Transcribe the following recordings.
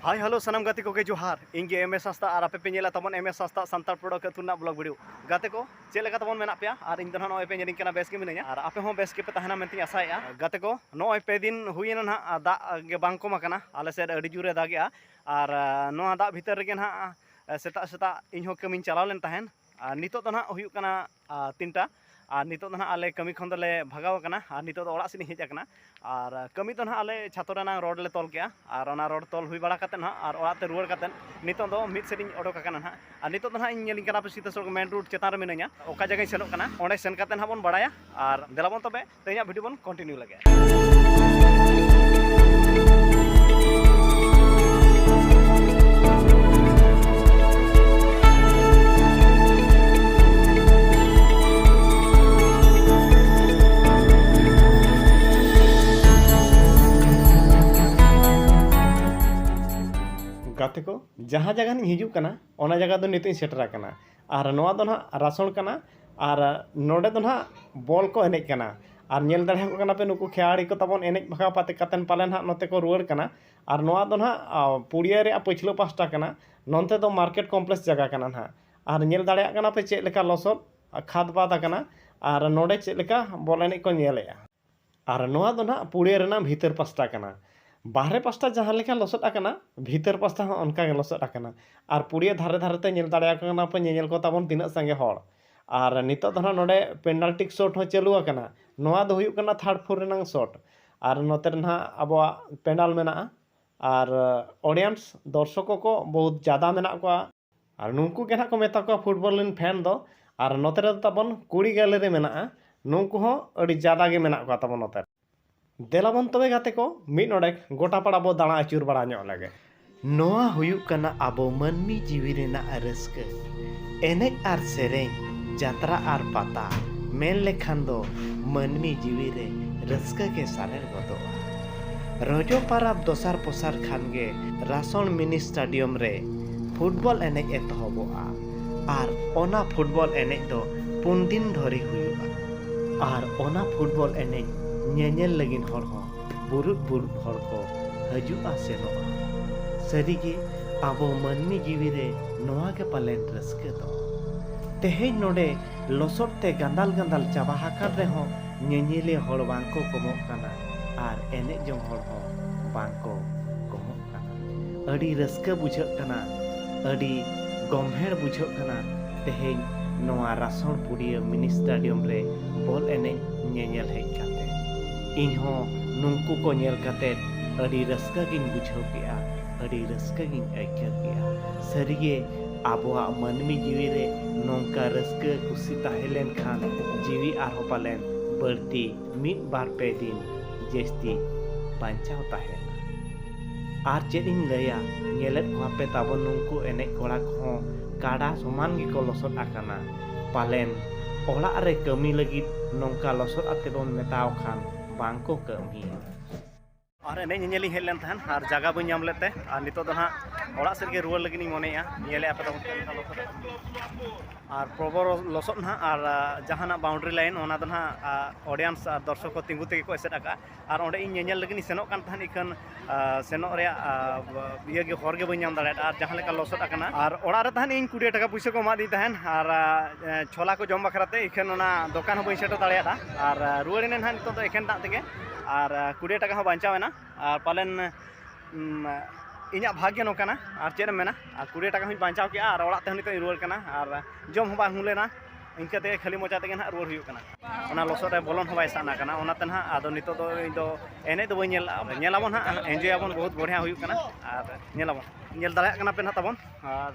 ᱦᱟᱭ hello ᱥᱟᱱᱟᱢ ᱜᱟᱛᱮ ᱠᱚᱜᱮ ᱡᱚᱦᱟᱨ ᱤᱧ ᱜᱮ ᱮᱢ ᱮᱥ ᱦᱟᱸᱥᱫᱟ ᱟᱨ ᱟᱯᱮ ᱯᱮ ᱧᱮᱞᱟ ᱛᱟᱵᱚᱱ ᱮᱢ ᱮᱥ ᱦᱟᱸᱥᱫᱟ ᱥᱟᱱᱛᱟᱲ ᱯᱨᱚᱰᱚᱠ ᱟᱹᱛᱩ ᱨᱮᱱᱟᱜ ᱵᱞᱚᱜ ᱵᱷᱤᱰᱤᱭᱳ ᱜᱟᱛᱮ ᱠᱚ ᱪᱮᱫ ᱞᱮᱠᱟ ᱛᱟᱵᱚᱱ ᱢᱮᱱᱟᱜ ᱯᱮᱭᱟ ᱟᱨ ᱤᱧ ᱫᱚ ᱱᱟᱦᱟᱜ ᱱᱚᱜᱼᱚᱭ ᱯᱮ ᱧᱮᱞᱤᱧ ᱠᱟᱱᱟ ᱵᱮᱥ ᱜᱮ ᱢᱤᱱᱟᱹᱧᱟ ᱟᱨ ᱟᱯᱮ ᱦᱚᱸ ᱵᱮᱥ ᱜᱮᱯᱮ ᱛᱟᱦᱮᱱᱟ ᱢᱮᱱᱛᱮᱧ ᱟᱥᱟᱭᱮᱜᱼᱟ ᱜᱟᱛᱮ ᱠᱚ ᱱᱚᱜᱼᱚᱭ ᱯᱮ ᱫᱤᱱ ᱦᱩᱭᱮᱱᱟ ᱱᱟᱦᱟᱜ ᱫᱟᱜ ᱜᱮ ᱵᱟᱝ ᱠᱚᱢ ᱟᱠᱟᱱᱟ ᱟᱞᱮ ᱥᱮᱫ ᱟᱹᱰᱤ ᱡᱳᱨᱮ ᱫᱟᱜᱮᱜᱼᱟ ᱟᱨ ᱱᱚᱣᱟ ᱫᱟᱜ ᱵᱷᱤᱛᱟᱹᱨ ᱨᱮᱜᱮ ᱱᱟᱦᱟᱜ ᱥᱮᱛᱟᱜ ᱥᱮᱛᱟᱜ ᱤᱧᱦᱚᱸ ᱠᱟᱹᱢᱤᱧ ᱪᱟᱞᱟᱣ ᱞᱮᱱ ᱛᱟᱦᱮᱸᱫ ᱟᱨ ᱱᱤᱛᱚᱜ ᱫᱚ ᱱᱟᱦᱟᱜ ᱦᱩᱭᱩᱜ ᱠᱟᱱᱟ ᱛᱤᱱᱴᱟ ᱟᱨ ᱱᱤᱛᱚᱜ ᱫᱚ ᱱᱟᱦᱟᱜ ᱟᱞᱮ ᱠᱟᱹᱢᱤ ᱠᱷᱚᱱ ᱫᱚᱞᱮ ᱵᱷᱟᱜᱟᱣ ᱟᱠᱟᱱᱟ ᱟᱨ ᱱᱤᱛᱚᱜ ᱫᱚ ᱚᱲᱟᱜ ᱥᱮᱫ ᱤᱧ ᱦᱮᱡ ᱟᱠᱟᱱᱟ ᱟᱨ ᱠᱟᱹᱢᱤ ᱫᱚ ᱱᱟᱦᱟᱜ ᱟᱞᱮ ᱪᱷᱟᱛᱚ ᱨᱮᱱᱟᱜ ᱨᱚᱰ ᱞᱮ ᱛᱚᱞ ᱠᱮᱜᱼᱟ ᱟᱨ ᱚᱱᱟ ᱨᱚᱰ ᱛᱚᱞ ᱦᱩᱭ ᱵᱟᱲᱟ ᱠᱟᱛᱮᱫ ᱱᱟᱦᱟᱜ ᱟᱨ ᱚᱲᱟᱜ ᱛᱮ ᱨᱩᱣᱟᱹᱲ ᱠᱟᱛᱮᱫ ᱱᱤᱛᱚᱜ ᱫᱚ ᱢᱤᱫ ᱥᱮᱫ ᱤᱧ ᱚᱰᱚᱠ ᱟᱠᱟᱱᱟ ᱱᱟᱦᱟᱜ ᱟᱨ ᱱᱤᱛᱚᱜ ᱫᱚ ᱱᱟᱦᱟᱜ ᱤᱧ ᱧᱮᱞᱤᱧ ᱠᱟᱱᱟ ᱯᱮ ᱥᱤᱛᱟᱹ ᱥᱚᱲᱚᱠ ᱢᱮᱱ ᱨᱳᱰ ᱪᱮᱛᱟᱱ ᱨᱮ ᱢᱤᱱᱟᱹᱧᱟ ᱚᱠᱟ ᱡᱟᱭᱜᱟᱧ ᱥᱮᱱᱚᱜ ᱠᱟᱱᱟ ᱚᱸᱰᱮ ᱥᱮᱱ ᱠᱟᱛᱮᱫ ᱱᱟᱦᱟᱜ ᱵᱚᱱ ᱵᱟᱲᱟᱭᱟ ᱟᱨ ᱫᱮᱞᱟ ᱵᱚᱱ ᱛᱚᱵᱮ ᱛᱮᱦᱮᱧᱟᱜ ᱵᱷᱤᱰᱤᱭᱳ ᱵᱚᱱ ᱠᱚᱱᱴᱤᱱᱤᱭᱩ ᱞᱮᱜᱮ ᱜᱟᱛᱮ ᱠᱚ ᱡᱟᱦᱟᱸ ᱡᱟᱭᱜᱟ ᱨᱤᱧ ᱦᱤᱡᱩᱜ ᱠᱟᱱᱟ ᱚᱱᱟ ᱡᱟᱭᱜᱟ ᱫᱚ ᱱᱤᱛᱚᱜ ᱤᱧ ᱥᱮᱴᱮᱨ ᱟᱠᱟᱱᱟ ᱟᱨ ᱱᱚᱣᱟ ᱫᱚ ᱱᱟᱦᱟᱜ ᱨᱟᱥᱚᱲ ᱠᱟᱱᱟ ᱟᱨ ᱱᱚᱰᱮ ᱫᱚ ᱱᱟᱦᱟᱜ ᱵᱚᱞ ᱠᱚ ᱮᱱᱮᱡ ᱠᱟᱱᱟ ᱟᱨ ᱧᱮᱞ ᱫᱟᱲᱮ ᱟᱠᱚ ᱠᱟᱱᱟ ᱯᱮ ᱱᱩᱠᱩ ᱠᱷᱮᱞᱟᱲᱤ ᱠᱚ ᱛᱟᱵᱚᱱ ᱮᱱᱮᱡ ᱵᱷᱟᱜᱟᱣ ᱠᱟᱛᱮᱫ ᱯᱟᱞᱮ ᱱᱟᱦᱟᱜ ᱱᱚᱛᱮ ᱠᱚ ᱨᱩᱣᱟᱹᱲ ᱠᱟᱱᱟ ᱟᱨ ᱱᱚᱣᱟ ᱫᱚ ᱱᱟᱦᱟᱜ ᱯᱩᱲᱤᱭᱟᱹ ᱨᱮᱭᱟᱜ ᱯᱟᱹᱪᱷᱞᱟᱹ ᱯᱟᱥᱴᱟ ᱠᱟᱱᱟ ᱱᱚᱛᱮ ᱫᱚ ᱢᱟᱨᱠᱮᱴ ᱠᱚᱢᱯᱞᱮᱠᱥ ᱡᱟᱭᱜᱟ ᱠᱟᱱᱟ ᱱᱟᱦᱟᱜ ᱟᱨ ᱧᱮᱞ ᱫᱟᱲᱮᱭᱟᱜ ᱠᱟᱱᱟ ᱯᱮ ᱪᱮᱫ ᱞᱮᱠᱟ ᱞᱚᱥᱚᱫ ᱠᱷᱟᱫᱽ ᱵᱟᱫᱽ ᱟᱠᱟᱱᱟ ᱟᱨ ᱱᱚᱰᱮ ᱪᱮᱫ ᱞᱮᱠᱟ ᱵᱚᱞ ᱮᱱᱮᱡ ᱠᱚ ᱧᱮᱞᱮᱜᱼᱟ ᱟᱨ ᱱᱚᱣᱟ ᱫᱚ ᱱᱟᱦᱟᱜ ᱯᱩᱲᱤᱭᱟᱹ ᱨᱮᱱᱟᱜ ᱵᱷᱤᱛᱟᱹᱨ ᱯᱟᱥᱴᱟ ᱠᱟᱱᱟ ᱵᱟᱦᱨᱮ ᱯᱟᱥᱴᱟ ᱡᱟᱦᱟᱸ ᱞᱮᱠᱟ ᱞᱚᱥᱚᱫ ᱟᱠᱟᱱᱟ ᱵᱷᱤᱛᱟᱹᱨ ᱯᱟᱥᱴᱟ ᱦᱚᱸ ᱚᱱᱠᱟ ᱜᱮ ᱞᱚᱥᱚᱫ ᱟᱠᱟᱱᱟ ᱟᱨ ᱯᱩᱲᱤᱭᱟᱹ ᱫᱷᱟᱨᱮ ᱫᱷᱟᱨᱮ ᱛᱮ ᱧᱮᱞ ᱫᱟᱲᱮᱭᱟᱠᱚ ᱠᱟᱱᱟ ᱯᱮ ᱧᱮᱧᱮᱞ ᱠᱚ ᱛᱟᱵᱚᱱ ᱛᱤᱱᱟᱹᱜ ᱥᱟᱸᱜᱮ ᱦᱚᱲ ᱟᱨ ᱱᱤᱛᱚᱜ ᱫᱚ ᱱᱟᱦᱟᱜ ᱱᱚᱰᱮ ᱯᱮᱱᱟᱞᱴᱤᱠ ᱥᱚᱨᱴ ᱦᱚᱸ ᱪᱟᱹᱞᱩ ᱟᱠᱟᱱᱟ ᱱᱚᱣᱟ ᱫᱚ ᱦᱩᱭᱩᱜ ᱠᱟᱱᱟ ᱛᱷᱟᱨᱰ ᱯᱷᱳᱨ ᱨᱮᱱᱟᱜ ᱥᱚᱨᱴ ᱟᱨ ᱱᱚᱛᱮ ᱨᱮ ᱱᱟᱦᱟᱜ ᱟᱵᱚᱣᱟᱜ ᱯᱮᱱᱰᱟᱞ ᱢᱮᱱᱟᱜᱼᱟ ᱟᱨ ᱚᱰᱤᱭᱮᱱᱥ ᱫᱚᱨᱥᱚᱠᱚ ᱠᱚ ᱵᱚᱦᱩᱛ ᱡᱟᱫᱟ ᱢᱮᱱᱟᱜ ᱠᱚᱣᱟ ᱟᱨ ᱱᱩᱝᱠᱩ ᱜᱮ ᱱᱟᱦᱟᱜ ᱠᱚ ᱢᱮᱛᱟ ᱠᱚᱣᱟ ᱯᱷᱩᱴᱵᱚᱞ ᱨᱮᱱ ᱯᱷᱮᱱ ᱫᱚ ᱟᱨ ᱱᱚᱛᱮ ᱨᱮᱫᱚ ᱛᱟᱵᱚᱱ ᱠᱩᱲᱤ ᱜᱮᱞ ᱨᱮ ᱢᱮᱱᱟᱜᱼᱟ ᱱᱩᱝᱠᱩ ᱦᱚᱸ ᱟᱹᱰᱤ ᱡᱟᱫᱟ ᱜᱮ ᱢᱮᱱᱟᱜ ᱠᱚᱣᱟ ᱛᱟᱵᱚᱱ ᱱᱚᱛᱮ ᱨᱮ ᱫᱮᱞᱟ ᱵᱚᱱ ᱛᱚᱵᱮ ᱜᱟᱛᱮ ᱠᱚ ᱢᱤᱫ ᱱᱚᱰᱮᱠ ᱜᱚᱴᱟ ᱯᱟᱲᱟ ᱵᱚ ᱫᱟᱬᱟ ᱟᱹᱪᱩᱨ ᱵᱟᱲᱟ ᱧᱚᱜ ᱞᱮᱜᱮ ᱱᱚᱣᱟ ᱦᱩᱭᱩᱜ ᱠᱟᱱᱟ ᱟᱵᱚ ᱢᱟᱹᱱᱢᱤ ᱡᱤᱣᱤ ᱨᱮᱱᱟᱜ ᱨᱟᱹᱥᱠᱟᱹ ᱮᱱᱮᱡ ᱟᱨ ᱥᱮᱨᱮᱧ ᱡᱟᱛᱨᱟ ᱟᱨ ᱯᱟᱛᱟ ᱢᱮᱱ ᱞᱮᱠᱷᱟᱱ ᱫᱚ ᱢᱟᱹᱱᱢᱤ ᱡᱤᱣᱤ ᱨᱮ ᱨᱟᱹᱥᱠᱟᱹ ᱜᱮ ᱥᱟᱨᱮᱲ ᱜᱚᱫᱚᱜᱼᱟ ᱨᱚᱡᱚ ᱯᱟᱨᱟᱵᱽ ᱫᱚᱥᱟᱨ ᱯᱚᱥᱟᱨ ᱠᱷᱟᱱ ᱜᱮ ᱨᱟᱥᱚᱬ ᱢᱤᱱᱤ ᱥᱴᱟᱰᱤᱭᱚᱢ ᱨᱮ ᱯᱷᱩᱴᱵᱚᱞ ᱮᱱᱮᱡ ᱮᱛᱚᱦᱚᱵᱚᱜᱼᱟ ᱟᱨ ᱚᱱᱟ ᱯᱷᱩᱴᱵᱚᱞ ᱮᱱᱮᱡ ᱫᱚ ᱯᱩᱱ ᱫᱤᱱ ᱫᱷᱚᱨᱮ ᱦᱩᱭᱩᱜᱼᱟ ᱟᱨ ᱚᱱᱟ ᱯᱷᱩᱴᱵᱚᱞ ᱮᱱᱮᱡ ᱧᱮᱧᱮᱞ ᱞᱟᱹᱜᱤᱫ ᱦᱚᱲ ᱦᱚᱸ ᱵᱩᱨᱩᱫ ᱵᱩᱨᱩᱫ ᱦᱚᱲ ᱠᱚ ᱦᱤᱡᱩᱜᱼᱟ ᱥᱮᱱᱚᱜᱼᱟ ᱥᱟᱹᱨᱤ ᱜᱮ ᱟᱵᱚ ᱢᱟᱹᱱᱢᱤ ᱡᱤᱣᱤ ᱨᱮ ᱱᱚᱣᱟ ᱜᱮ ᱯᱟᱞᱮᱱ ᱨᱟᱹᱥᱠᱟᱹ ᱫᱚ ᱛᱮᱦᱮᱧ ᱱᱚᱰᱮ ᱞᱚᱥᱚᱫ ᱛᱮ ᱜᱟᱸᱫᱟᱞ ᱜᱟᱸᱫᱟᱞ ᱪᱟᱵᱟ ᱟᱠᱟᱱ ᱨᱮᱦᱚᱸ ᱧᱮᱧᱮᱞᱤᱭᱟᱹ ᱦᱚᱲ ᱵᱟᱝ ᱠᱚ ᱠᱚᱢᱚᱜ ᱠᱟᱱᱟ ᱟᱨ ᱮᱱᱮᱡ ᱡᱚᱝ ᱦᱚᱲ ᱦᱚᱸ ᱵᱟᱝ ᱠᱚ ᱟᱹᱰᱤ ᱨᱟᱹᱥᱠᱟᱹ ᱵᱩᱡᱷᱟᱹᱜ ᱠᱟᱱᱟ ᱟᱹᱰᱤ ᱜᱚᱢᱦᱮᱲ ᱵᱩᱡᱷᱟᱹᱜ ᱠᱟᱱᱟ ᱛᱮᱦᱮᱧ ᱱᱚᱣᱟ ᱨᱟᱥᱚᱲ ᱯᱩᱰᱤᱭᱟᱹ ᱢᱤᱱᱤ ᱥᱴᱟᱰᱤᱭᱚᱢ ᱨᱮ ᱵᱚᱞ ᱮᱱᱮᱡ ᱧᱮᱧᱮᱞ ᱦᱮᱡ ᱠᱟᱛᱮ ᱤᱧ ᱦᱚᱸ ᱱᱩᱝᱠᱩ ᱠᱚ ᱧᱮᱞ ᱠᱟᱛᱮ ᱟᱹᱰᱤ ᱨᱟᱹᱥᱠᱟᱹ ᱜᱤᱧ ᱵᱩᱡᱷᱟᱹᱣ ᱠᱮᱜᱼᱟ ᱟᱹᱰᱤ ᱨᱟᱹᱥᱠᱟᱹ ᱜᱤᱧ ᱟᱹᱭᱠᱟᱹᱣ ᱠᱮᱜᱼᱟ ᱥᱟᱹᱨᱤ ᱜᱮ ᱟᱵᱚᱣᱟᱜ ᱢᱟᱹᱱᱢᱤ ᱡᱤᱣᱤ ᱨᱮ ᱱᱚᱝᱠᱟ ᱨᱟᱹᱥᱠᱟᱹ ᱠᱩᱥᱤ ᱛᱟᱦᱮᱸ ᱞᱮᱱ ᱠᱷᱟᱱ ᱡᱤᱣᱤ ᱟᱨᱦᱚᱸ ᱯᱟᱞᱮᱱ ᱵᱟᱹᱲᱛᱤ ᱢᱤᱫ ᱵᱟᱨ ᱯᱮ ᱫᱤᱱ ᱡᱟᱹᱥᱛᱤ ᱵᱟᱧᱪᱟᱣ ᱛᱟᱦᱮᱱᱟ ᱟᱨ ᱪᱮᱫ ᱤᱧ ᱞᱟᱹᱭᱟ ᱧᱮᱞᱮᱫ ᱠᱚᱣᱟ ᱯᱮ ᱛᱟᱵᱚᱱ ᱱᱩᱝᱠᱩ ᱮᱱᱮᱡ ᱠᱚᱲᱟ ᱠᱚᱦᱚᱸ ᱠᱟᱰᱟ ᱥᱚᱢᱟᱱ ᱜᱮᱠᱚ ᱞᱚᱥᱚᱫ ᱟᱠᱟᱱᱟ ᱯᱟᱞᱮᱱ ᱚᱲᱟᱜ ᱨᱮ ᱠᱟᱹᱢᱤ ᱞᱟᱹᱜᱤᱫ ᱱᱚᱝᱠᱟ ᱞᱚᱥᱚᱫ ᱟᱛᱮ ᱵᱚᱱ ᱢᱮᱛᱟᱣ ᱠᱷᱟᱱ ᱵᱟᱝ ᱠᱚ ᱠᱟᱹᱢᱤᱭᱟ ᱟᱨ ᱮᱱᱮᱡ ᱧᱮᱧᱮᱞᱤᱧ ᱦᱮᱡ ᱞᱮᱱ ᱛᱟᱦᱮᱸᱱ ᱟᱨ ᱡᱟᱭᱜᱟ ᱵᱟᱹᱧ ᱧᱟᱢ ᱞᱮᱫ ᱛᱮ ᱟᱨ ᱱᱤᱛᱚᱜ ᱫᱚ ᱦᱟᱸᱜ ᱚᱲᱟᱜ ᱥᱮᱫ ᱜᱮ ᱨᱩᱣᱟᱹᱲ ᱞᱟᱹᱜᱤᱫ ᱤᱧ ᱢᱚᱱᱮᱭᱮᱜᱼᱟ ᱧᱮᱞᱮᱜᱼᱟ ᱯᱮ ᱟᱨ ᱯᱨᱚᱵᱚᱨ ᱞᱚᱥᱚᱫ ᱱᱟᱦᱟᱜ ᱟᱨ ᱡᱟᱦᱟᱱᱟᱜ ᱵᱟᱣᱩᱱᱰᱨᱤ ᱞᱟᱭᱤᱱ ᱚᱱᱟ ᱫᱚ ᱱᱟᱦᱟᱜ ᱚᱰᱤᱭᱮᱱᱥ ᱟᱨ ᱫᱚᱨᱥᱚᱠ ᱠᱚ ᱛᱤᱸᱜᱩ ᱛᱮᱜᱮ ᱠᱚ ᱮᱥᱮᱫ ᱟᱠᱟᱜᱼᱟ ᱟᱨ ᱚᱸᱰᱮ ᱤᱧ ᱧᱮᱧᱮᱞ ᱞᱟᱹᱜᱤᱫ ᱤᱧ ᱥᱮᱱᱚᱜ ᱠᱟᱱ ᱛᱟᱦᱮᱸᱫ ᱤᱠᱷᱟᱹᱱ ᱥᱮᱱᱚᱜ ᱨᱮᱭᱟᱜ ᱤᱭᱟᱹ ᱜᱮ ᱦᱚᱨ ᱜᱮ ᱵᱟᱹᱧ ᱧᱟᱢ ᱫᱟᱲᱮᱭᱟᱫᱟ ᱟᱨ ᱡᱟᱦᱟᱸ ᱞᱮᱠᱟ ᱞᱚᱥᱚᱫ ᱟᱠᱟᱱᱟ ᱟᱨ ᱚᱲᱟᱜ ᱨᱮ ᱛᱟᱦᱮᱸᱫ ᱤᱧ ᱠᱩᱲᱤ ᱴᱟᱠᱟ ᱯᱩᱭᱥᱟᱹ ᱠᱚ ᱮᱢᱟᱫᱤᱧ ᱛᱟᱦᱮᱸᱫ ᱟᱨ ᱪᱷᱚᱞᱟ ᱠᱚ ᱡᱚᱢ ᱵᱟᱠᱷᱨᱟ ᱛᱮ ᱤᱠᱷᱟᱹᱱ ᱚᱱᱟ ᱫᱚᱠᱟᱱ ᱦᱚᱸ ᱵᱟᱹᱧ ᱥᱮᱴᱮᱨ ᱫᱟᱲᱮᱭᱟᱫᱟ ᱟᱨ ᱨᱩᱣᱟᱹᱲ ᱮᱱᱟᱹᱧ ᱱᱟᱦᱟᱜ ᱱᱤᱛᱚᱜ ᱫᱚ ᱮᱠᱷᱮᱱ ᱫᱟᱜ ᱛᱮᱜᱮ ᱟᱨ ᱠᱩᱲᱤ ᱴᱟᱠᱟ ᱦᱚᱸ ᱵᱟᱧᱪᱟᱣ ᱮᱱᱟ ᱟᱨ ᱯᱟᱞᱮᱱ ᱤᱧᱟᱹᱜ ᱵᱷᱟᱜᱽ ᱜᱮ ᱱᱚᱝᱠᱟᱱᱟ ᱟᱨ ᱪᱮᱫ ᱮᱢ ᱢᱮᱱᱟ ᱟᱨ ᱠᱩᱲᱤ ᱴᱟᱠᱟ ᱦᱚᱸᱧ ᱵᱟᱧᱪᱟᱣ ᱠᱮᱫᱼᱟ ᱟᱨ ᱚᱲᱟᱜ ᱛᱮᱦᱚᱸ ᱱᱤᱛᱚᱜ ᱤᱧ ᱨᱩᱣᱟᱹᱲ ᱠᱟᱱᱟ ᱟᱨ ᱡᱚᱢ ᱦᱚᱸ ᱵᱟᱝ ᱦᱩᱭ ᱞᱮᱱᱟ ᱤᱱᱠᱟᱹ ᱛᱮᱜᱮ ᱠᱷᱟᱹᱞᱤ ᱢᱚᱪᱟ ᱛᱮᱜᱮ ᱱᱟᱦᱟᱜ ᱨᱩᱣᱟᱹᱲ ᱦᱩᱭᱩᱜ ᱠᱟᱱᱟ ᱚᱱᱟ ᱞᱚᱥᱚᱫ ᱨᱮ ᱵᱚᱞᱚᱱ ᱦᱚᱸ ᱵᱟᱭ ᱥᱟᱱᱟ ᱠᱟᱱᱟ ᱚᱱᱟᱛᱮ ᱱᱟᱦᱟᱜ ᱟᱫᱚ ᱱᱤᱛᱚᱜ ᱫᱚ ᱤᱧ ᱫᱚ ᱮᱱᱮᱡ ᱫᱚ ᱵᱟᱹᱧ ᱧᱮᱞ ᱞᱟᱜᱼᱟ ᱧᱮᱞ ᱟᱵᱚᱱ ᱱᱟᱦᱟᱜ ᱮᱱᱡᱚᱭ ᱟᱵᱚᱱ ᱵᱚᱦᱩᱛ ᱵᱚᱲᱦᱭᱟ ᱦᱩᱭᱩᱜ ᱠᱟᱱᱟ ᱟᱨ ᱧᱮᱞ ᱟᱵᱚᱱ ᱧᱮᱞ ᱫᱟᱲᱮᱭᱟᱜ ᱠᱟᱱᱟ ᱯᱮ ᱱᱟᱦᱟᱜ ᱛᱟᱵᱚᱱ ᱟᱨ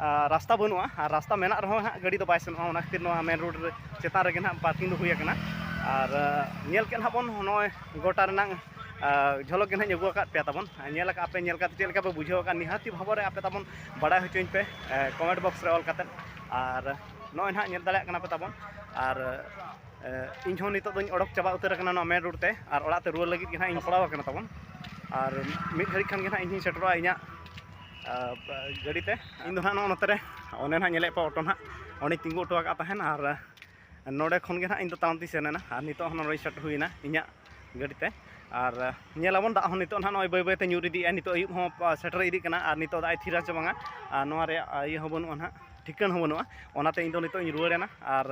ᱨᱟᱥᱛᱟ ᱵᱟᱹᱱᱩᱜᱼᱟ ᱟᱨ ᱨᱟᱥᱛᱟ ᱢᱮᱱᱟᱜ ᱨᱮᱦᱚᱸ ᱦᱟᱸᱜ ᱜᱟᱹᱰᱤ ᱫᱚ ᱵᱟᱭ ᱥᱮᱱᱚᱜᱼᱟ ᱚᱱᱟ ᱠᱷᱟᱹᱛᱤᱨ ᱱᱚᱣᱟ ᱢᱮᱱ ᱨᱳᱰ ᱨᱮ ᱪᱮᱛᱟᱱ ᱨᱮᱜᱮ ᱦᱟᱸᱜ ᱯᱟᱨᱠᱤᱝ ᱫᱚ ᱦᱩᱭ ᱟᱠᱟᱱᱟ ᱟᱨ ᱧᱮᱞ ᱠᱮᱫ ᱦᱟᱸᱜ ᱵᱚᱱ ᱱᱚᱜᱼᱚᱭ ᱜᱚᱴᱟ ᱨᱮᱱᱟᱜ ᱡᱷᱚᱞᱚᱠ ᱜᱮ ᱦᱟᱸᱜ ᱟᱹᱜᱩ ᱟᱠᱟᱫ ᱯᱮᱭᱟ ᱛᱟᱵᱚᱱ ᱧᱮᱞ ᱟᱠᱟᱫ ᱯᱮ ᱧᱮᱞ ᱠᱟᱛᱮ ᱪᱮᱫ ᱞᱮᱠᱟ ᱯᱮ ᱵᱩᱡᱷᱟᱹᱣ ᱟᱠᱟᱫ ᱱᱤᱦᱟᱹᱛᱤ ᱵᱷᱟᱵᱚ ᱨᱮ ᱟᱯᱮ ᱛᱟᱵᱚᱱ ᱵᱟᱲᱟᱭ ᱦᱚᱪᱚᱧ ᱯᱮ ᱠᱚᱢᱮᱱᱴ ᱵᱚᱠᱥ ᱨᱮ ᱚᱞ ᱠᱟᱛᱮ ᱟᱨ ᱱᱚᱜᱼᱚᱭ ᱦᱟᱸᱜ ᱧᱮᱞ ᱫᱟᱲᱮᱭᱟᱜ ᱠᱟᱱᱟ ᱯᱮ ᱛᱟᱵᱚᱱ ᱟᱨ ᱤᱧ ᱦᱚᱸ ᱱᱤᱛᱚᱜ ᱫᱚᱧ ᱚᱰᱚᱠ ᱪᱟᱵᱟ ᱩᱛᱟᱹᱨ ᱟᱠᱟᱱᱟ ᱱᱚᱣᱟ ᱢᱮᱱ ᱨᱳᱰ ᱛᱮ ᱟᱨ ᱚᱲᱟᱜ ᱛᱮ ᱨᱩᱣᱟᱹᱲ ᱞᱟᱹᱜᱤᱫ ᱜᱮ ᱦᱟᱸᱜ ᱤᱧ ᱥᱟᱯᱲᱟᱣ ᱟᱠᱟᱱᱟ ᱛᱟᱵᱚᱱ ᱟᱨ ᱢᱤᱫ ᱜᱷᱟᱹᱲᱤᱡ ᱠᱷᱟᱱ ᱜᱮ ᱦᱟᱸᱜ ᱤᱧ ᱦᱚᱸᱧ ᱥᱮᱴᱮᱨᱚᱜᱼᱟ ᱤᱧᱟᱹᱜ ᱜᱟᱹᱰᱤ ᱛᱮ ᱤᱧ ᱫᱚ ᱦᱟᱸᱜ ᱱᱚᱜᱼᱚ ᱱᱚᱛᱮ ᱨᱮ ᱚᱱᱮ ᱱᱟᱦᱟᱜ ᱧᱮᱞᱮᱫ ᱠᱚᱣᱟ ᱚᱴᱳ ᱱᱟᱦᱟᱜ ᱚᱸᱰᱮᱧ ᱛᱤᱸᱜᱩ ᱦᱚᱴᱚ ᱟᱠᱟᱫ ᱛᱟᱦᱮᱱ ᱟᱨ ᱱᱚᱰᱮ ᱠᱷᱚᱱ ᱜᱮ ᱱᱟᱦᱟᱜ ᱤᱧ ᱫᱚ ᱛᱟᱲᱟᱢ ᱛᱮᱧ ᱥᱮᱱ ᱮᱱᱟ ᱟᱨ ᱱᱤᱛᱚᱜ ᱦᱚᱸ ᱱᱚᱰᱮ ᱥᱴᱟᱨᱴ ᱦᱩᱭ ᱮᱱᱟ ᱤᱧᱟᱹᱜ ᱜᱟᱹᱰᱤ ᱛᱮ ᱟᱨ ᱧᱮᱞ ᱟᱵᱚᱱ ᱫᱟᱜ ᱦᱚᱸ ᱱᱤᱛᱚᱜ ᱱᱟᱦᱟᱜ ᱱᱚᱜᱼᱚᱭ ᱵᱟᱹᱭ ᱵᱟᱹᱭ ᱛᱮ ᱧᱩᱨ ᱤᱫᱤᱭᱮᱫᱼᱟᱭ ᱱᱤᱛᱚᱜ ᱟᱹᱭᱩᱵ ᱦᱚᱸ ᱥᱮᱴᱮᱨ ᱤᱫᱤᱜ ᱠᱟᱱᱟ ᱟᱨ ᱱᱤᱛᱚᱜ ᱫᱟᱜ ᱮ ᱛᱷᱤᱨᱟ ᱥᱮ ᱵᱟᱝᱟ ᱟᱨ ᱱᱚᱣᱟ ᱨᱮᱭᱟᱜ ᱤᱭᱟᱹ ᱦᱚᱸ ᱵᱟᱹᱱᱩᱜᱼᱟ ᱱᱟᱦᱟᱜ ᱴᱷᱤᱠᱟᱹᱱ ᱦᱚᱸ ᱵᱟᱹᱱᱩᱜᱼᱟ ᱚᱱᱟᱛᱮ ᱤᱧ ᱫᱚ ᱱᱤᱛᱚᱜ ᱤᱧ ᱨᱩᱣᱟᱹᱲ ᱮᱱᱟ ᱟᱨ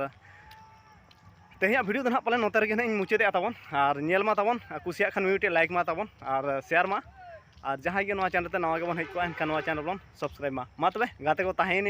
ᱛᱮᱦᱮᱧᱟᱜ ᱵᱷᱤᱰᱤᱭᱳ ᱫᱚ ᱱᱟᱦᱟᱜ ᱯᱟᱞᱮᱱ ᱱᱚᱛᱮ ᱨᱮᱜᱮ ᱱᱟᱦᱟᱜ ᱤᱧ ᱢᱩᱪᱟᱹᱫᱮᱜᱼᱟ ᱛᱟᱵᱚᱱ ᱟᱨ ᱧᱮᱞ ᱢᱟ ᱛᱟᱵᱚᱱ ᱠᱩᱥᱤᱭᱟᱜ ᱠᱷᱟᱱ ᱢᱤᱫᱴᱮᱡ ᱞᱟᱭᱤᱠ ᱢᱟ ᱛᱟᱵᱚᱱ ᱟᱨ ᱥᱮᱭᱟᱨ ᱢᱟ ᱟᱨ ᱡᱟᱦᱟᱸᱭ ᱜᱮ ᱱᱚᱣᱟ ᱪᱮᱱᱮᱞ ᱛᱮ ᱱᱟᱣᱟ ᱜᱮᱵᱚᱱ ᱦᱮᱡ ᱠᱚᱜᱼᱟ ᱮᱱᱠᱷᱟᱱ ᱱᱚᱣᱟ ᱪᱮᱱᱮᱞ ᱵᱚᱱ ᱥᱟᱵᱥᱠᱨᱟᱭᱤᱵᱽ ᱢᱟ ᱢᱟ ᱛᱚᱵᱮ ᱜᱟᱛᱮ ᱠᱚ ᱛᱟᱦᱮᱸᱭᱮᱱᱟᱹᱧ